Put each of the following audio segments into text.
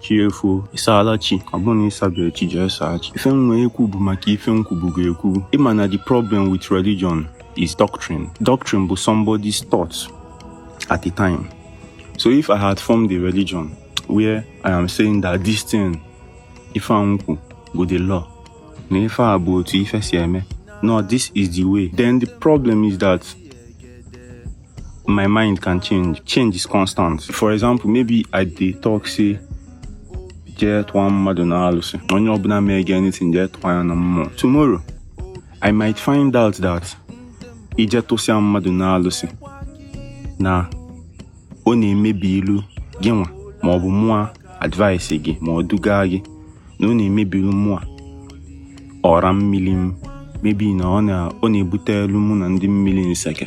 chi efoo ịsaala chi ọ bụrụ na ịsabeghị chi jee saa chi ife m wee ekwu bụ maka ife m kwubugo ekwu ịma na the problem with religion is doctrine doctrine bụ somebody's thought at the time so if i had formed a religion where i am saying that this thing ife a m kwu bụ the law na ife a bụ otu ife si eme no this is the way then the problem is that my mind can change change is constant for example maybe i dey talk say jee tụọ mmadụ na alụsị onye ọbụla mee gị anything jee tụọ ya na mmụọ tomorrow i might find out that ije tụsịa mmadụ na alụsị na ọ na-emebilụ gị nwa ma ọ bụ mụa advice gị ma ọ duga gị na ọ na-emebilụ mụa ọra mmiri m maybe na ọ na-ebutelụ mụ na ndị mmiri nseke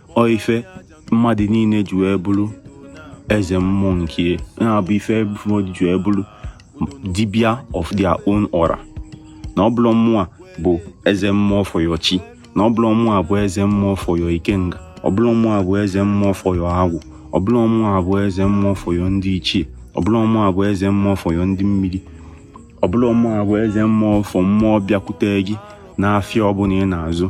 ọ ife mmadụ niile ji wee bụrụ eze mmụọ nke na-abụ ife mmadụ ji wee bụrụ dibia of their own ọra na ọ bụrọ mụa bụ eze mmụọ for your chi na ọ bụrọ mụa bụ eze mmụọ for your ikenga ọ bụrọ mụa bụ eze mmụọ for your agwụ ọ bụrọ mụa bụ eze mmụọ for your ndị ichie ọ bụrọ mụa bụ eze mmụọ for your ndị mmiri ọ bụrọ mụa bụ eze mmụọ for mmụọ bịakwute gị n'afịa ọbụla ị na-azụ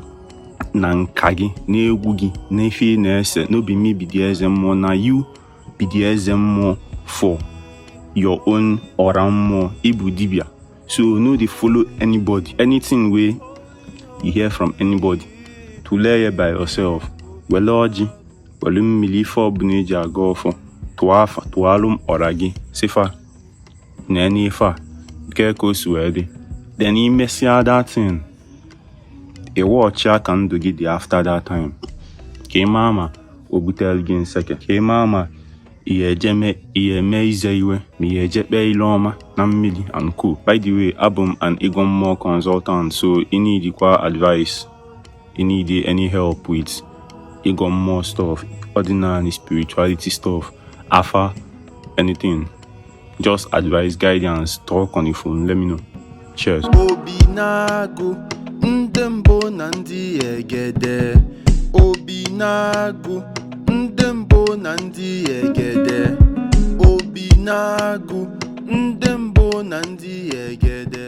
na nka gị n'egwu gị n'ife ị na-ese no be me be the eze mmụọ na you be the eze mmụọ for your own ọra mmụọ ịbụ dibia so no dey follow anybody anything wey you hear from anybody tụlee ya by yourself wele ọjị wele mmiri ife ọbụla eji agọ ọfọ tụọ afa tụalụ ọra gị sị fa na nee ife a nke ka o si wee dị then imesịa that thing ị watch ya ka ndụ gị dị after that time ka ị maa ma o butere gị nseke ka ị maa ma ị ya-eje mee ị ya-eme ize iwe ma ị ya-eje kpee ile ọma na mmiri and co by the way abụ m an ịgọ mmụọ consultant so ị needikwa advice Ị need any help with ịgọ mmụọ stuff, ọdịnanị spirituality stuff, afa, anything. Just advice, guidance, talk on the phone. Let me know. Cheers. Obi na-agụ ndị mbụ na ndị egede Obi na-agụ ndị mbụ na ndị egede Obi na-agụ ndị mbụ na ndị egede